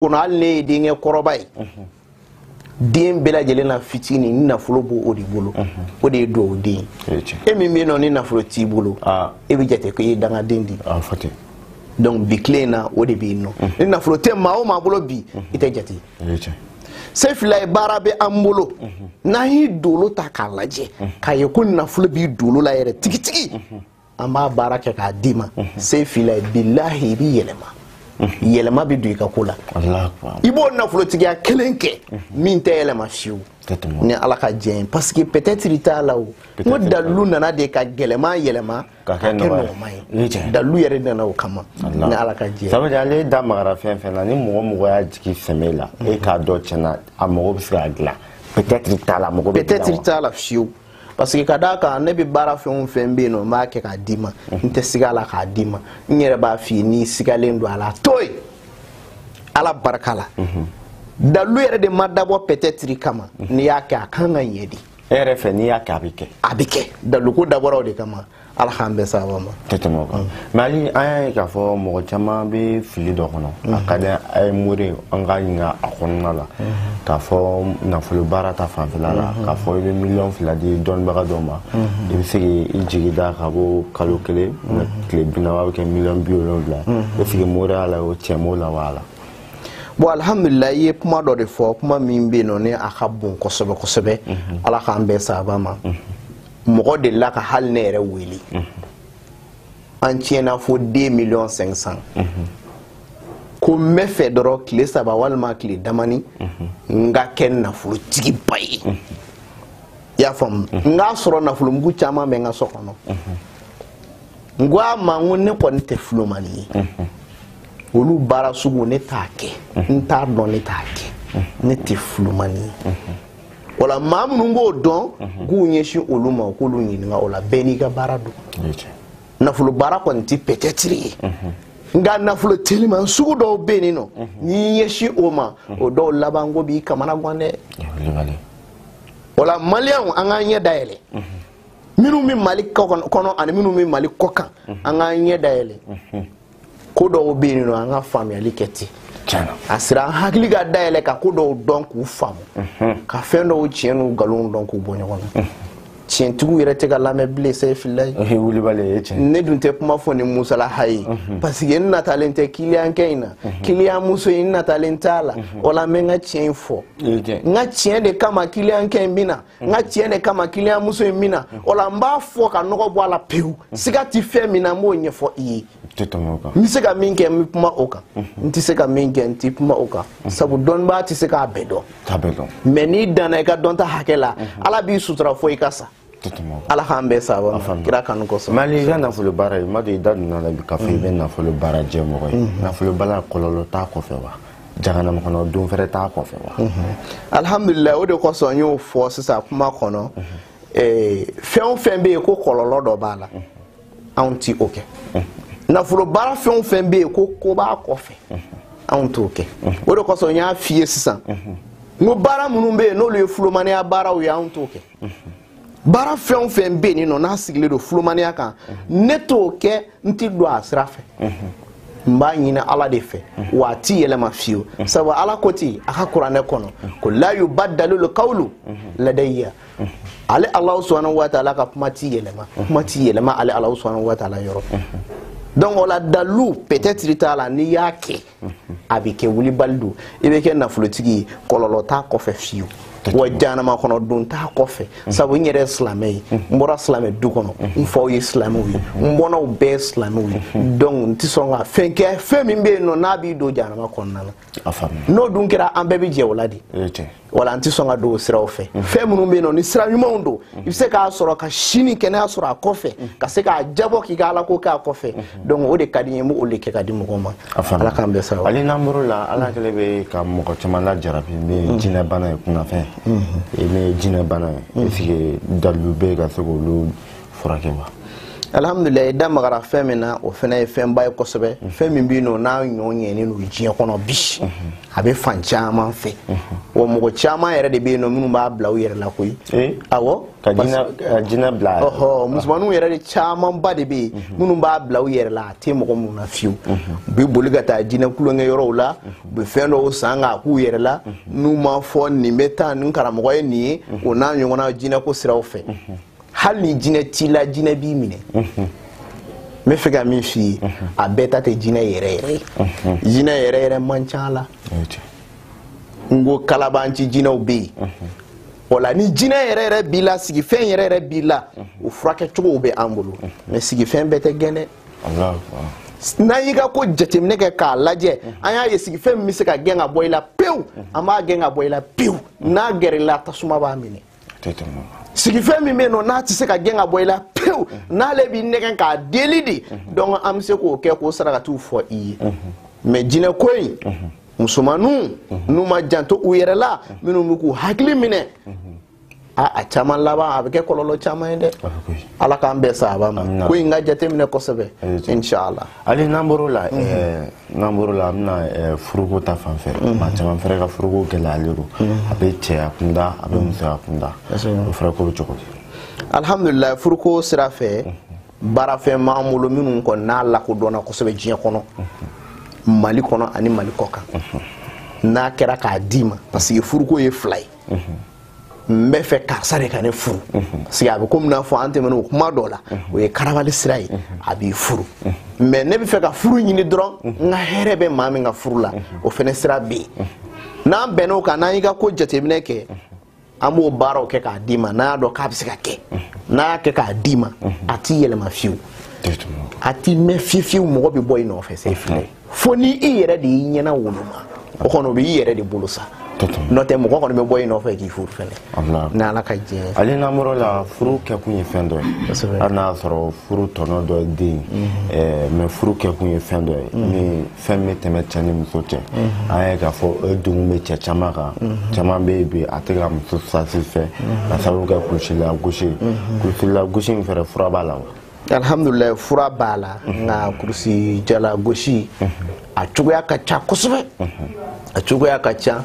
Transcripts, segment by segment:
kɔnɔ hali n'e ye denkɛ kɔrɔba ye den bɛɛ lajɛlen na fitini ni nafolo b'o o de bolo o de ye duwawu den e min bɛ yen nɔ ni nafolo t'i bolo e bɛ jate ko i ye dangaden de ye donc bi tile in na o de bɛ yen nɔ ni nafolo tɛ maa o maa bolo bi i tɛ jate sefilaye baara bɛ an bolo n'an y'i dolo ta k'a lajɛ k'a ye ko nafolo b'i dolo la yɛrɛ tigitigi an b'a baara kɛ k'a d'i ma sefilaye bilahi i b'i yɛlɛma yɛlɛma bɛ don i ka ko la i b'o nafolotigiya kelen kɛ min tɛ yɛlɛma fiyewu ni ala ka diɲɛ ye parce que peut-être t'a la o n ko dalilu nana de ka gɛlɛman yɛlɛma ka kɛ nɔgɔman ye dalilu yɛrɛ nana o kama ni ala ka diɲɛ ça veut dire ale da magara fɛn fɛn na ni mɔgɔ mɔgɔ y'a jigi sɛmɛ a la e k'a dɔn tiɲɛna a mago bɛ se ka dilan peut-être t'a la mago bɛ peut-être t'a la fiyewu parce que ka d'a kan ne bɛ baara fɛn o fɛn bɛ yen nɔ n b'a kɛ k'a d'i ma n tɛ siga a la k'a d'i ma n yɛrɛ b'a f'i ye n'i sigalen don a la to yen ala barika la dalilu yɛrɛ de ma dabɔ peut-être kama n'i y'a kɛ a kan ka ɲɛ de e yɛrɛ fɛ n'i y'a kɛ a bɛ kɛ a bɛ kɛ daliluko dabɔra o de kama ala k'an bɛɛ sababa ma tɛ tɛmɛ o kan mm. mais hali an y'a ye k'a fɔ mɔgɔ caman bɛ fili dɔ kɔnɔ a mm. ka di an ye mori an ka ɲininka a kɔnɔna la mm-hmm. k'a fɔ nafolo baara ta fanfɛla la mm-hmm. k'a fɔ i bɛ miliyɔn fila di dɔnnibaga dɔ ma mm-hmm. i bɛ se k'i jigi da ka bɔ kalo kelen ma tile bi naani a bɛ kɛ miliyɔn bi wolonwula est-ce que moriya la o tiɲɛ b'o la wala bon alhamdulila i ye kuma dɔ de fɔ kuma min bɛ yen nɔ ni a ka bon kosɛbɛ kosɛbɛ ala k'an bɛɛ sababa ma mɔgɔ delila ka hali ne yɛrɛ wele an tiɲɛna fo 2 miliyɔn 500 ko n b'a fɛ dɔrɔn tile saba walima tile damanin n ka kɛ nafolotigiba ye i y'a faamu n k'a sɔrɔ nafolomugu caman bɛ n ka so kɔnɔ n ko a ma n ko ne kɔni tɛ fulomani ye olu baara sugu ne t'a kɛ n t'a dɔn ne t'a kɛ ne tɛ fulomani ye wala maa minnu b'o dɔn mhm. k'u ɲɛsin olu ma u k'olu ɲininka o la bɛɛ n'i ka baara don nafolo baara kɔni tɛ peut-être ye mhm. nka nafolo teliman sugu dɔw bɛ yen nɔ mhm. n'i ɲɛsin o ma o dɔw labanko b'i kamanagan dɛ wala maliyɛnw an k'an ɲɛ dayɛlɛ minnu bɛ mali kɔnɔ ani minnu bɛ mali kɔkan an k'an ɲɛ dayɛlɛ ko dɔw bɛ yen nɔ an ka faamuyali kɛ ten a sera an hakili ka dayɛlɛ ka ko dɔw dɔn k'u faamu mhm. ka fɛn dɔw tiɲɛ n'u nkalonw dɔn k'u bɔ ɲɔgɔn na mhm. tiɲɛtigiw yɛrɛ tɛ ka lamɛn bilen sefilaye ne dun tɛ kuma fɔ ni musalaha ye mhm. parce que n natalen tɛ kiliyankɛ in na kiliyan muso in n natalen t'a la o la n bɛ n ka tiɲɛ in fɔ n ka tiɲɛ de kama kiliyankɛ in bɛ na n ka tiɲɛ de kama kiliyanmuso ye min na o la n b'a fɔ ka nɔgɔ bɔ a la pewu siga tɛ fɛn min na n b'o ɲɛfɔ i ye n bɛ se ka min kɛ n bɛ kuma o kan n tɛ se ka min kɛ n tɛ kuma o kan sabu dɔnnibaa tɛ se k'a bɛɛ dɔn mais n'i danna i ka dɔnta hakɛ la ala b'i sutura fo i ka sa ala k'an bɛɛ sara kira kanu kosɔn hali i ka nafolo baara ye ma deli i da donna a la bi k'a fɔ i bɛ nafolo baara kɛ mɔgɔ ye nafolo baara kɔlɔlɔ t'a kɔfɛ wa jahanama kɔnɔ don fɛrɛ t'a kɔfɛ wa alhamdulilayi o de kosɔn n y'o fɔ sisan kuma kɔnɔ fɛn o fɛn bɛ yen ko kɔlɔlɔ dɔ b'a la anw ti o kɛ nafolo baara fɛn o fɛn bɛ yen ko ko b'a kɔfɛ anw t'o kɛ o de kosɔn n y'a f'i ye sisan n ko baara minnu bɛ yen n'olu ye fulomaniya baaraw ye anw t'o kɛ baara fɛn o fɛn bɛ yen nɔ n'a sigilen don fulomaniya kan ne t'o kɛ n ti don a sira fɛ n b'a ɲini ala de fɛ wa a ti yɛlɛma fiyewu sabu ala ko ten a ka kuranɛ kɔnɔ ko la yubadalul kawulu ladayiya ale alahu subhanahu wa taala ka kuma ti yɛlɛma kuma ti yɛlɛma ale alahu subhanahu wa taala yɔrɔ donc o la dalilu peut-être t'a la n'i y'a kɛ a bɛ kɛ wulibali don i bɛ kɛ nafolotigi ye kɔlɔlɔ t'a kɔfɛ fiyewu wa janama kɔnɔ don t'a kɔfɛ sabu n yɛrɛ silamɛ ye n bɔra silamɛ du kɔnɔ n faw ye silamɛw ye n bɔnnaw bɛɛ silamɛw ye donc n tɛ sɔn ka fɛn kɛ fɛn min bɛ yen nɔ n'a b'i don janama kɔnɔna na n'o dun kɛra an bɛɛ bɛ jɛ o la de wala n tɛ sɔn ka don o siraw fɛ fɛn minnu bɛ yen nɔ ni sira ɲumanw don i bɛ se k'a sɔrɔ ka sini kɛnɛya sɔrɔ a kɔfɛ ka se k'a jabɔ k'i ka ala ko kɛ a kɔfɛ donc o de ka di n ye n b'o de kɛ ka di mɔgɔw ma ala k'an bɛɛ sara hali n'an bɔr'o la ala kɛlen bɛ ka mɔgɔ caman lajarabi ni mm. jinɛ bana ye kunnafɛn mm-hmm. ni jinɛ bana ye est ce que dalilu bɛ yen ka se k'olu furakɛ wa alhamdulillah i da magara fɛn min na o fana ye fɛnba ye kosɛbɛ mhm. fɛn min bɛ yen nɔ n'a ɲɔ ɲɛnen don diɲɛ kɔnɔ bi mhm. a bɛ fan caman fɛ mhm. wa mɔgɔ caman yɛrɛ de bɛ yen nɔ minnu b'a bila u yɛrɛ la koyi eh? awɔ ka jinɛ bila ɔhɔ musomaninw yɛrɛ de camanba de bɛ yen minnu b'a bila u yɛrɛ la a tɛ mɔgɔ minnu na fiyewu u bɛ boli ka taa jinɛ tulonkɛ yɔrɔw la u bɛ fɛn dɔw san k'a k'u yɛrɛ la n'u ma fɔ nin bɛ taa nin karamɔgɔ ye nin ye o n'a ɲɔgɔnna jinɛko siraw fɛ hali ni jinɛ t'i la jinɛ b'i minɛ n bɛ fɛ ka min f'i ye a bɛɛ ta tɛ jinɛ yɛrɛ yɛrɛ ye jinɛ yɛrɛ yɛrɛ man ca a la n ko kalabanci jinɛw bɛ yen o la ni jinɛ yɛrɛ yɛrɛ b'i la sigifɛn yɛrɛ yɛrɛ b'i la o furakɛ cogow bɛ an bolo mais sigifɛn bɛɛ tɛ gɛn dɛ n'an y'i ka ko jateminɛ kɛ k'a lajɛ an y'a ye sigifɛn min bɛ se ka gɛn ka bɔ i la pewu an b'a gɛn ka bɔ i la pewu n'a gɛrɛ i la tasuma b'a minɛ sigifɛn min bɛ i nɔ n'a tɛ se ka gɛn ka bɔ i la pewu n'ale bɛ nɛgɛn k'a deli de donc an bɛ se k'o kɛ k'o sarakatiw fɔ i ye mais jinɛ ko in musomaninw n'u ma janto u yɛrɛ la minnu bɛ k'u hakili minɛ a a caman laban a bɛ kɛ kɔlɔlɔ caman ye dɛ ala k'an bɛɛ saaba a ma ko in ka jateminɛ kosɛbɛ inshallah hali n'an bɔr'o la n'an bɔr'o la an bɛna furuko ta fan fɛ maa caman fɛnɛ ka furuko gɛlɛyalen don a bɛ cɛya kunda a bɛ musoya kunda o fɛnɛ ko bɛ cogo di alhamdulilayi furuko sira fɛ baarafɛn b'an bolo minnu kɔni n'a lakodɔnna kosɛbɛ diɲɛ kɔnɔ mali kɔnɔ ani mali kɔkan n'a kɛra k'a d'i ma parce que furuko ye fila ye n bɛ fɛ karisa de ka ne furu parce que a bɛ komi n'a fɔ an tɛmɛna o kuma dɔ la o ye karabali sira ye a b'i furu mais ne bɛ fɛ ka furu ɲini dɔrɔn n ka hɛrɛ bɛ maa min ka furu la o fɛnɛ sira bɛ yen n'an bɛnna o kan n'an y'i ka ko jateminɛ kɛ an b'o baaraw kɛ k'a d'i ma n'an y'a dɔn k'a bɛ se ka kɛ n'an y'a kɛ k'a d'i ma a ti yɛlɛma fiyewu a ti mɛɛn fiyewu fiyewu mɔgɔ bɛ bɔ i nɔfɛ sefilayi fo ni i yɛrɛ de y'i ɲɛna woloma o kɔni o bɛ i yɛrɛ de bolo sa n'o tɛ mɔgɔ kɔni bɛ bɔ i nɔfɛ k'i furu fɛnɛ ni ala ka diɲɛ ale n'an bɔr'o la furu kɛkun ye fɛn dɔ ye hali n'a y'a sɔrɔ furu tɔnɔ dɔ ye den ye mais furu kɛkun ye fɛn dɔ ye ni fɛn bɛ tɛmɛ cɛ ni muso cɛ an ye k'a fɔ o degun bɛ cɛ caman kan caman bɛ yen bi a tɛ ka muso satisfait k'a sababu kɛ kulusijala gosi ye kulusijala gosi in fɛnɛ fura b'a la wa alhamdulillah fura b'a la nka kurusi jala gosi a cogoya ka ca kosɛbɛ a cogoya ka ca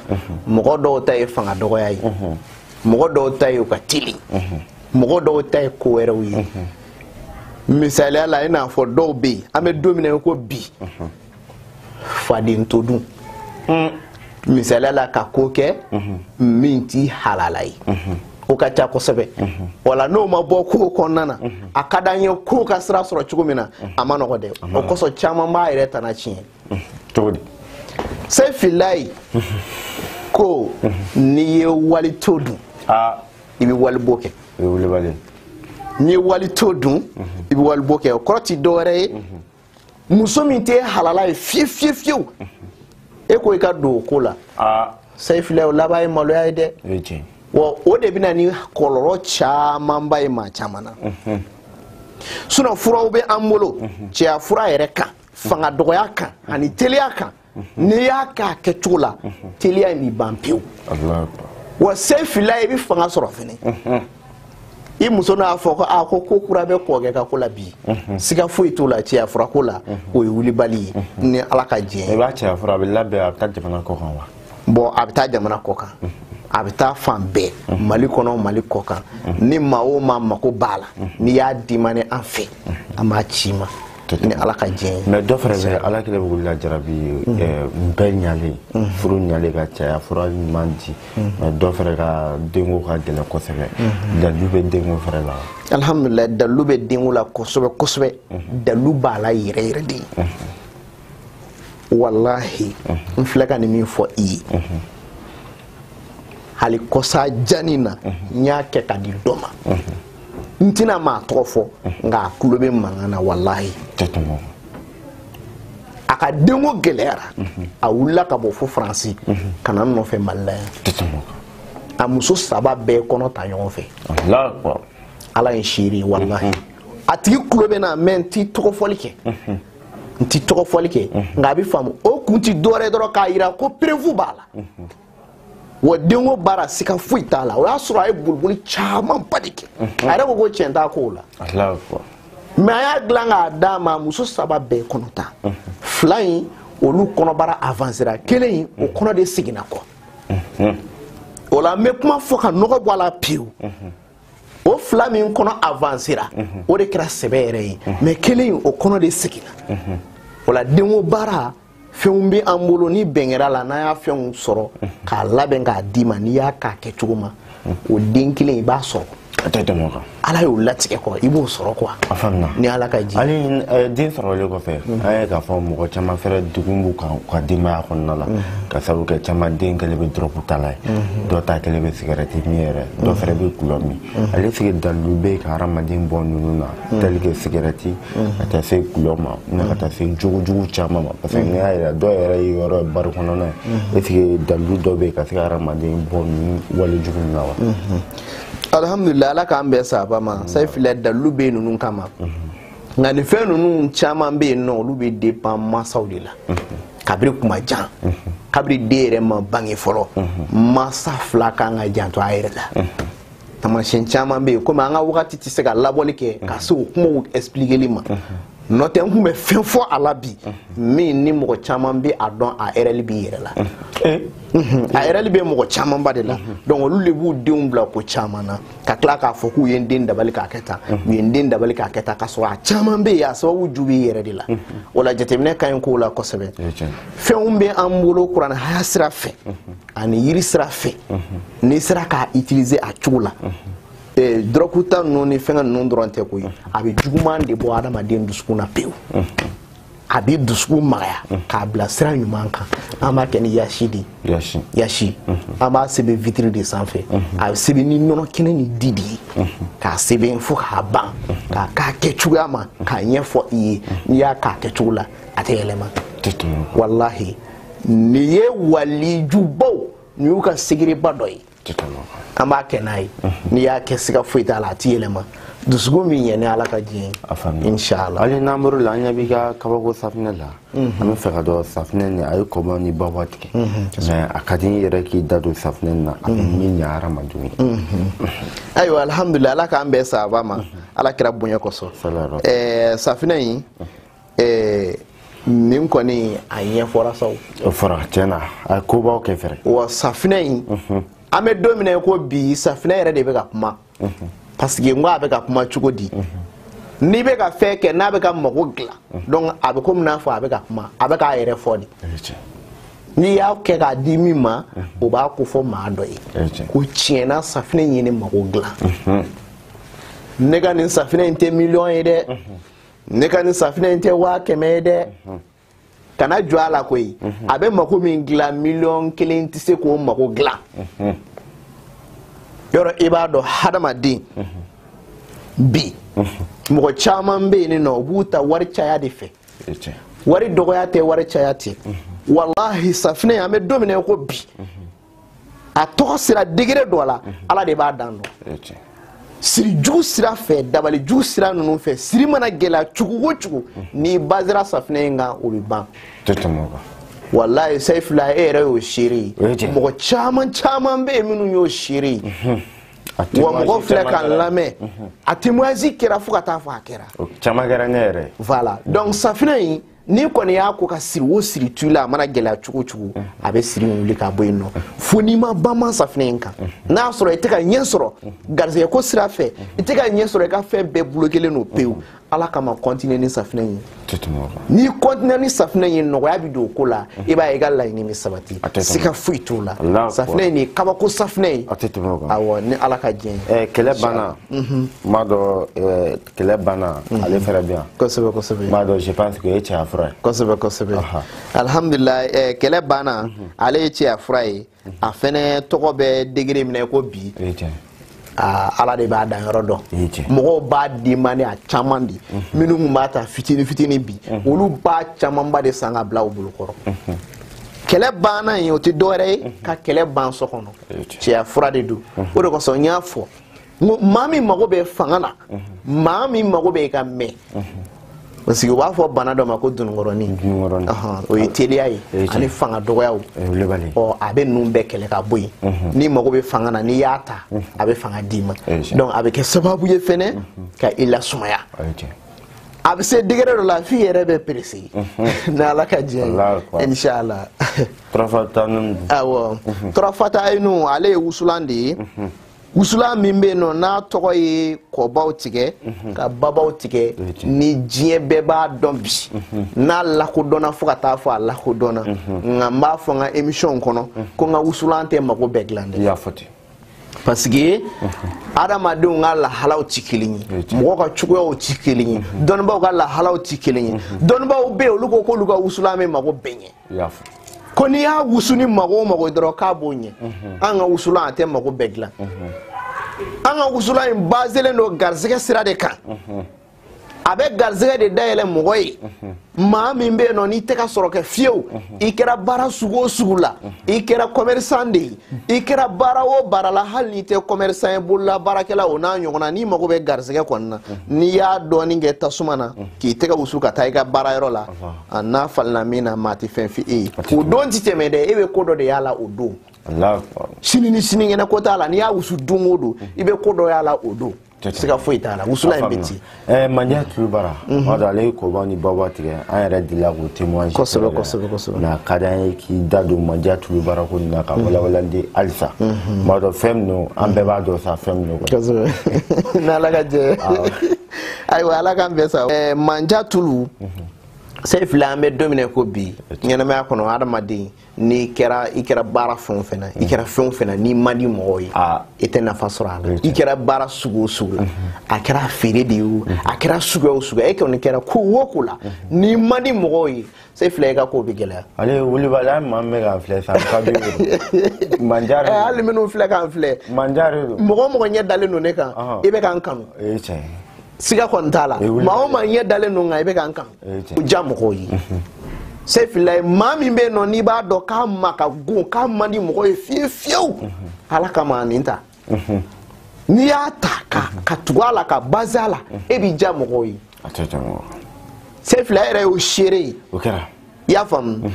mɔgɔ dɔw ta ye fanga dɔgɔya ye mɔgɔ dɔw ta ye u ka teli mɔgɔ dɔw ta ye ko wɛrɛw ye misaliya la i n'a fɔ dɔw bɛ yen an bɛ don min na i ko bi faden to dun hmm. misaliya la ka ko kɛ mhm. min t'i halala ye mhm. o ka ca kosɛbɛ mhm. wala n'o ma bɔ ko kɔnɔna na a ka d'an ye ko ka sira sɔrɔ cogo min na a man nɔgɔ dɛ o kosɔn caman b'a yɛrɛ tana tiɲɛ cogo di sefilayi ko n'i ye wali to dun i bɛ wali bo kɛ n'i ye wali to dun i bɛ wali bo kɛ o kɔrɔ ti dɔwɛrɛ ye muso min tɛ e halala ye fiye fiye fiyew e ko i ka don o ko la sefilayi o laban ye maloya ye dɛ wa o de bɛ na ni kɔlɔlɔ camanba ye maa caman na mhm. sinon furaw bɛ an bolo mhm. cɛya fura yɛrɛ kan fanga dɔgɔya kan ani teliya kan n'i y'a kɛ a kɛcogo la teliya in bi ban pewu wa se fila i bɛ fanga sɔrɔ fɛnɛ i muso n'a fɔ ko a ko ko kura bɛ kɔkɛ ka ko la bi siga foyi t'o la cɛya fura ko la o ye wulibali ye ni ala ka diɲɛ i b'a cɛya fura a bɛ labɛn a bɛ taa jamana kɔ kan wa bɔn a bɛ taa jamana kɔ kan a bɛ taa fan bɛɛ mali kɔnɔ mali kɔ kan ni maa o maa mako b'a la n'i y'a demandé an fɛ an b'a c'i ma ni ala ka diɲɛ ye mais dɔ fɛnɛ bɛ ala kɛlen bɛ k'olu lajarabi mhm. eh, bɛɛ ɲalen mhm. furu ɲalen ka cɛya fura ɲuman di mhm. mais dɔ fɛnɛ ka denko ka gɛlɛn kosɛbɛ dalu bɛ denko fɛnɛ la alhamdulillah dalu bɛ denko la kosɛbɛ kosɛbɛ dalu b'a la yɛrɛ yɛrɛ de walahi n filɛ ka nin min fɔ i ye hali kɔsa janni na n y'a kɛ ka di dɔ ma n tɛna maa tɔgɔ fɔ nka a tulo bɛ mankan na walahi a ka denko gɛlɛyara a wulila ka bɔ fo faransi ka na n nɔfɛ mali la yan a muso saba bɛɛ kɔnɔ ta ɲɔgɔn fɛ ala ye seere ye walahi a tigi tulo bɛ n na mais n ti tɔgɔ fɔli kɛ n ti tɔgɔ fɔli kɛ nka a bɛ faamu o kun ti dɔwɛrɛ dɔrɔn k'a jira ko preuve b'a la wa denko baara siga foyi t'a la o y'a sɔrɔ a ye boliboli camanba de kɛ a yɛrɛ ko ko tiɲɛ t'a kow la mais a y'a dilan k'a d'a ma muso saba bɛɛ kɔnɔ ta fila in olu kɔnɔbara avansera kelen in o kɔnɔ de seginna kɔ o la n bɛ kuma fɔ ka nɔgɔ bɔ a la pewu o fila min kɔnɔ avansera o de kɛra sɛbɛ yɛrɛ ye mais kelen in o kɔnɔ de seginna o la denko baara fɛnw bɛ an bolo ni bɛn kɛr'a la n'an y'a fɛnw sɔrɔ k'a labɛn k'a d'i ma n'i y'a k'a kɛ cogo ma o den kelen i b'a sɔrɔ a tɛ tɛmɛ o kan ala y'o latigɛ kɔ i b'o sɔrɔ quoi a faamuya ni ala ka diɲɛ hali eh, den sɔrɔlen kɔfɛ mm. an ye k'a fɔ mɔgɔ caman fɛrɛ degun b'u kan u ka denbaya kɔnɔna la mm. ka sababu kɛ caman den kɛlen bɛ dɔrɔgutala ye mm-hmm. dɔ ta kɛlen bɛ sigɛrɛti min yɛrɛ dɔ mm. fɛrɛ bɛ gulɔ min est ce que dalilu bɛ ka hadamaden bɔ ninnu na tel que sigɛrɛti ka taa se gulɔ min na ka taa se jogojugu caman ma parce que n'i y'a yira dɔw yɛrɛ yeyɔrɔ ye bari kɔnɔna ye est ce que dalilu dɔ bɛ yen ka se ka hadamaden bɔ nin wale jugu nin na wa alhamdulilayi ala k'an bɛɛ saba ma sayi filɛ dalilu bɛ yen ninnu kama nka nin fɛn ninnu caman bɛ yen nɔ olu bɛ depan mansaw de la kabiri kuma jan kabiri den yɛrɛ ma bange fɔlɔ mansa fila kan ka janto a yɛrɛ la tamasiyɛn caman bɛ yen komi an ka wagati tɛ se ka labɔli kɛ ka se o kumaw expliqueli ma n'o tɛ n tun bɛ fɛn fɔ a la bi min ni mɔgɔ caman bɛ a dɔn a erreur b'i yɛrɛ la eh? a erreur bɛ mɔgɔ camanba de la donc olu de b'u denw bila ko caman na ka tila k'a fɔ k'u ye n den dabali k'a kɛ tan u ye n den dabali k'a kɛ tan k'a sɔrɔ a caman bɛ yen a sababu ju b'i yɛrɛ de la o la jateminɛ ka ɲi kow la kosɛbɛ fɛnw bɛ an bolo kuranɛ haya sira fɛ ani yiri sira fɛ n'i sera k'a utiliser a cogo la eh, dɔrɔkuta ninnu ni fɛngɛ ninnu dɔrɔn tɛ koyi a bɛ juguman de bɔ adamaden dusukun na pewu a bɛ dusukun magaya k'a bila sira ɲuman kan an b'a kɛ ni yasi de ye yasi an b'a sɛbɛn vitiri de sanfɛ a bɛ sɛbɛn ni nɔnɔ kɛnɛ ni di de ye k'a sɛbɛn fo k'a ban k'a k'a kɛ cogoya ma k'a ɲɛfɔ i ye n'i y'a k'a kɛ cogo la a tɛ yɛlɛma walahi nin ye walijubaw nin y'u ka sigiriba dɔ ye an b'a kɛ n'a ye n'i y'a kɛ siga foyi t'a la a tɛ yɛlɛma dusukun min ɲɛ ni ala ka diɲɛ inshallah hali n'an bɔr'o la an ɲɛ b'i ka kabako safinɛ la an b'a fɛ k'a dɔn safinɛ nin a ye kɔba ni baba tigɛ mais a ka di n yɛrɛ k'i da don safinɛ nin na a bɛ min ɲɛ hadamadenw ye ayiwa alhamdulilayi ala k'an bɛɛ sababa ma ala kira bonya kosɔn safinɛ in ɛɛ nin kɔni a ɲɛfɔra sa o. o fɔra tiɲɛ na a ye kobaw kɛ fɛrɛ. wa safinɛ in. Mhm. an bɛ don min na ko bi safinɛ yɛrɛ de bɛ ka kuma. Mhm. parce que n ko a bɛ ka kuma cogo di. Mhm. n'i bɛ ka fɛn kɛ n'a bɛ ka mago dilan. donc a bɛ komi n'a fɔ a bɛ ka kuma a bɛ k'a yɛrɛ fɔ de. n'i y'a kɛ k'a di min ma o b'a ko fɔ maa dɔ ye ko tiɲɛna safinɛ in ye ne mago dilan ne ka nin safinɛ in tɛ miliyɔn ye dɛ. ne ka nin safinɛ in tɛ waa kɛmɛ ye dɛ kana jɔn a la koyi a bɛ mako min dilan miliyɔn kelen tɛ se k'o mako dilan yɔrɔ i b'a dɔn hadamaden bi mɔgɔ caman bɛ yen n'o b'u ta wari caya de fɛ wari dɔgɔya tɛ wari caya tɛ walahi safinɛ an bɛ don min na ko bi a tɔgɔ sera degré dɔ la ala de b'a dan dɔn sirijugu sira fɛ dabalijugu sira ninnu fɛ siri mana gɛlɛya cogo o cogo n'i basera safinɛ in kan o bɛ ban walayi sayifula e yɛrɛ y'o seere ye mɔgɔ caman caman bɛ yen minnu y'o seere ye mhm. wa mɔgɔ filɛ k'an lamɛn mhm. a témoignage kɛra fo ka taa fɔ a kɛra caman kɛra ne yɛrɛ voilà donc safinɛ in n'i kɔni y'a ko ka siri o siri tu la a mana gɛlɛya cogo o cogo a bɛ siri wuli ka bɔ yen nɔ fo n'i ma banman safinɛ in kan n'a y'a sɔrɔ i tɛ ka ɲɛ sɔrɔ garisɛgɛ ko sira fɛ i tɛ ka ɲɛ sɔrɔ i ka fɛn bɛɛ bulokelen don pewu ala kama kɔntine ni safinɛ in n'i kɔntine ni safinɛ in nɔgɔya bɛ don o ko la i b'a ye i ka laɲini bɛ sabati siga foyi t'o la safinɛ in de ye kabako safinɛ ye awɔ ni ala ka diɲɛ ye kɛlɛ banna n b'a dɔn kɛlɛ banna mhm. ale fɛnɛ bɛ yan kosɛbɛ kosɛbɛ n b'a dɔn je pense que o ye cɛya fura ye kosɛbɛ kosɛbɛ alhamdulilayi eh, kɛlɛ banna mhm. ale ye cɛya fura ye mhm. a fɛnɛ tɔgɔ bɛ degere min na ko bi Ah, ala de b'a danyɔrɔ dɔn mɔgɔw b'a demande a caman de minnu kun b'a ta fitini fitini bi olu b'a camanba de san ka bila u bolo kɔrɔ kɛlɛ banna in o tɛ dɔwɛrɛ ye ka kɛlɛ ban so kɔnɔ cɛya fura de don o de kosɔn n y'a fɔ maa min mago bɛ fanga na maa min mago bɛ ka mɛɛn parce que u b'a fɔ bana dɔ ma ko dununkɔrɔnin o ye teliya ye ani fanga dɔgɔyaw ɔ a bɛ ninnu bɛɛ kɛlɛ ka bɔ yen n'i mago bɛ fanga na n'i y'a ta a bɛ fanga d'i ma donc a bɛ kɛ sababu ye fɛnɛ ka i lasumaya a bɛ se degere dɔ la f'i yɛrɛ bɛ perese ni ala ka diɲɛ ye inshallah turafata ninnu awɔ turafata ninnu ale ye wusulan de ye wusulan min bɛ yen nɔ n'a tɔgɔ ye kɔbaw tigɛ mhm. ka babaw tigɛ ni diɲɛ bɛɛ b'a dɔn bi mhm. n'a lakodɔnna fo ka taa fɔ a lakodɔnna mhm. nka n b'a fɔ n ka emisiyɔn kɔnɔ ko n ka wusulan tɛ mago bɛɛ dilan dɛ parce que adamadenw ka lahalaw tɛ kelen ye mɔgɔ ka cogoyaw tɛ kelen ye dɔnnibaaw ka lahalaw tɛ kelen ye dɔnnibaaw bɛ yen olu ko k'olu ka wusulan bɛ mago bɛɛ ɲɛ ko n'i y'a wusu ni mago o mago ye dɔrɔn k'a b'o ɲɛ an ka wusulan a tɛ mago bɛɛ dilan an ka wusulan in baselen don garisɛgɛ sira de kan a bɛ garisɛgɛ de dayɛlɛ mɔgɔ ye maa min bɛ yen nɔ n'i tɛ ka sɔrɔ kɛ fiyewu i kɛra baara sugu o sugu la i kɛra kɔmɛrisan de ye i kɛra baara o baara la hali n'i tɛ kɔmɛrisan ye bolola baarakɛla o n'a ɲɔgɔnna n'i mago bɛ garisɛgɛ kɔni na n'i y'a dɔɔni kɛ tasuma na k'i tɛgɛ wusu ka taa i ka baarayɔrɔ la a n'a falina min na maa tɛ fɛn f'i ye o don ti tɛmɛ dɛ e bɛ ko dɔ de y'a la o don sini ni sinikɛnɛ ko t'a la n'i y'a wusu don o don i bɛ ko dɔ y'a la o don siga foyi t'a la wusulan in bɛ ten eh, manja tulubara mhm. o don ale ye kɔbaw ni babaw tigɛ an yɛrɛ delila k'o témoignage kosɛbɛ kosɛbɛ kosɛbɛ nka a ka d'an ye k'i da don manja tulubara ko nin na ka mhm. walawalali di halisa mhm. m'a dɔn fɛn min don an bɛɛ b'a dɔn sa fɛn min don kosɛbɛ n'ala ka jɛ ayiwa ala k'an bɛn sa ɛɛ manja tulu seyifila an bɛ don min na ko bi ɲɛnamaya kɔnɔ adamaden n'i kɛra i kɛra baara fɛn o fɛn na i kɛra fɛn o fɛn na n'i man di mɔgɔw ye i tɛ nafa sɔrɔ a la i kɛra baara sugu o sugu la a kɛra feere de ye o a kɛra suguya o suguya e kɔni kɛra ko o ko la n'i man di mɔgɔw ye seyifila i ka ko bɛ gɛlɛya ale ye wulibali an maa min bɛ k'an filɛ san ka bi manja de eh, hali minnu filɛ k'an filɛ manja de don mɔgɔ o mɔgɔ ɲɛ dalen don ne kan i bɛ k'an kanu o ye tiɲɛ ye siga kɔni t'a la maa o maa ɲɛ dalen don kan i bɛ k'an kanu o diya mɔgɔw ye mhm. seyifila ye maa min bɛ yen nɔ n'i b'a dɔn k'a ma ka gon k'a man di mɔgɔ ye fiyewu fiyewu mhm. ala kama nin ta n'i y'a ta ka tugu a la ka baze a la e b'i diya mɔgɔw ye seyifila yɛrɛ y'o seere ye i y'a faamu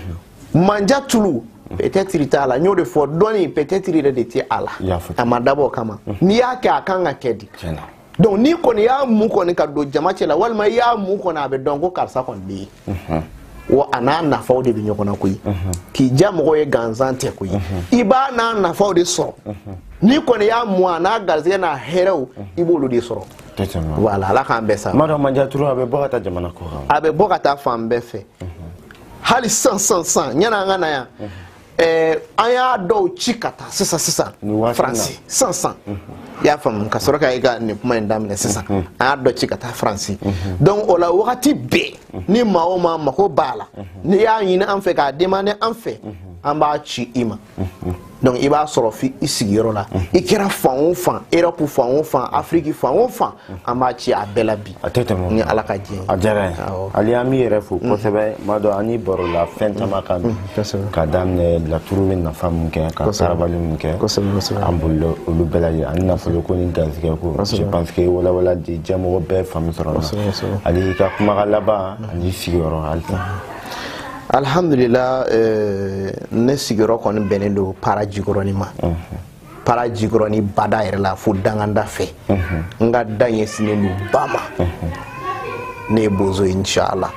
manja tulu peut-être t'a la n y'o de fɔ dɔɔni peut-être yɛrɛ de tɛ a la a ma dabɔ o kama n'i y'a kɛ a kan ka kɛ de donc n'i kɔni y'a mu kɔni ka don jama cɛ la walima i y'a mu kɔni a bɛ dɔn ko karisa kɔni bɛ yen mhm. wa a n'a nafaw de bɛ ɲɔgɔn na koyi mhm. k'i diya mɔgɔ ye gansan tɛ koyi mhm. i b'a n'a nafaw de sɔrɔ n'i kɔni y'a mu a n'a garisɛgɛ n'a hɛrɛw i b'olu de sɔrɔ voilà ala k'an bɛn sa m'a dɔn manja tulu a bɛ bɔ ka taa jamana kɔkan a bɛ bɔ ka taa fan bɛɛ fɛ hali sisan sisan sisan yann'an ka na yan ɛɛ an y'a dɔw ci ka taa sisan sisan faransi sisan sisan i y'a faamu ka sɔrɔ ka i ka nin kuma in daminɛ sisan an y'a dɔ ci ka taa faransi donc o la wagati bɛɛ ni maa o maa mago b'a la n'i y'a ɲini an fɛ k'a demander an fɛ an b'a ci i ma donc i b'a sɔrɔ f'i sigiyɔrɔ la i kɛra fan o fan europe fan o fan afiriki fan o fan an b'a ci a bɛɛ la bi a tɛ tɛmɛ ni ala ka diɲɛ ye a diyara n ye ali an b'i yɛrɛ fo mm. kosɛbɛ m'a dɔn an barola fɛn caman kan mm, ka daminɛ laturu bɛ nafa min kɛ ka sarabali min kɛ an bolila olu bɛɛ lajɛ ani nafolo ko ni garisɛgɛ ko je pense que walawala diɲɛmɔgɔ bɛɛ faamu sɔrɔ la ali i ka kumakan laban mm. ani sigiyɔrɔ halisa alhamdulila eh, ne sigiyɔrɔ kɔni bɛnnen don para jikɔrɔni ma para jikɔrɔni bada yɛrɛ la fo dankan da fɛ n ka da ɲɛsinnen don ba ma ne ye bozo ye inshallah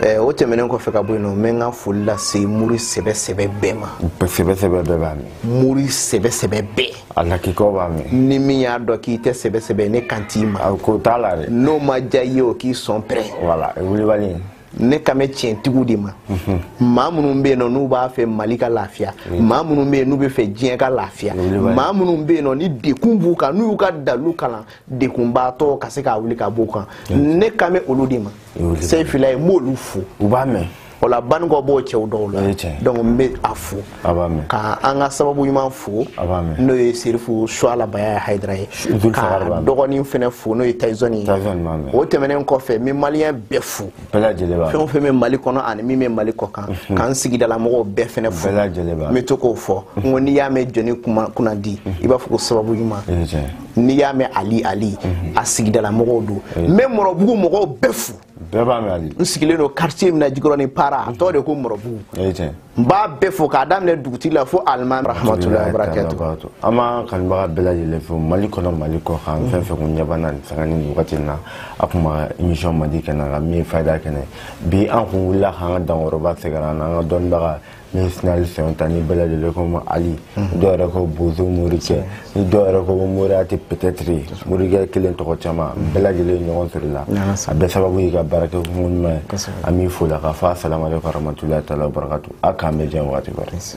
eh, o tɛmɛnen kɔfɛ ka bɔ yen nɔ n bɛ n ka foli lase mori sɛbɛ sɛbɛ bɛɛ ma sɛbɛ sɛbɛ bɛɛ b'a mɛn mori sɛbɛ sɛbɛ bɛɛ a lakikaw b'a mɛn ni min y'a dɔn k'i tɛ sɛbɛ sɛbɛ ne kan t'i ma ko t'a la dɛ n'o ma diya i ye o k'i sɔn pɛrɛn voilà wulibali ne kan bɛ tiɲɛtigiw de ma maa minnu bɛ yen nɔ n'u b'a fɛ mali ka lafiya maa minnu bɛ yen n'u bɛ fɛ diɲɛ ka lafiya maa minnu bɛ yen nɔ ni degun b'u kan n'u y'u ka dalu kalan degunbaatɔ ka se k'a wuli ka b'u kan ne kan bɛ olu de ma seyifila ye n b'olu fo u b'a mɛn o la banikɔ b'o cɛw dɔw la donc n bɛ a fo ka an ka sababu ɲuman fo n'o ye serifu suala bayaya hayidara ye k'a dɔgɔnin fɛnɛ fo n'o ye tayizɔni ye o tɛmɛnen kɔfɛ n bɛ maliyɛn bɛɛ fo fɛn o fɛn bɛ mali kɔnɔ ani min bɛ mali kɔkan mhm. k'an sigidalamɔgɔw bɛɛ fɛnɛ fo n bɛ to k'o fɔ n ko n'i y'a mɛn jɔni kunnadi mhm. i b'a fɔ ko sababu ɲuman n'i y'a mɛn ali ali mhm. a sigidalamɔgɔw don n bɛ mɔrɔbugu mɔgɔw bɛɛ fo bɛɛ b'a mɛn ali n sigilen don quartier min na jikɔrɔni para a tɔgɔ de ko mɔrɔbugu n b'a bɛɛ fo k'a daminɛ dugutigi la fo alimami rahamatulahi barakatu an b'a kanubaga bɛɛ lajɛlen fo mali kɔnɔ mali kɔkan fɛn fɛn kun ɲɛ b'an na nin sanga ni nin wagati na a kun ma émission mandi kɛnɛ kan min ye fayida kɛnɛ bi an kun wulila k'an ka dankɔrɔba sɛgɛrɛ an na an ka dɔnnibaga min ye sinali sɛnta ni bɛɛ lajɛlen k'o ma ali mhm. dɔw yɛrɛ ko bozo morikɛ ni dɔw yɛrɛ ko moriyati peut-être morikɛ kelen tɔgɔ caman mhm. bɛɛ lajɛlen ɲɔgɔn sɔrɔla a bɛɛ sababu y'i ka baara kɛkun ɲuman ye an b'i fo la k'a fɔ asalamalekum warahmatulahi taala wabarakatu a k'an bɛɛ diɲɛ waati kɔrɔ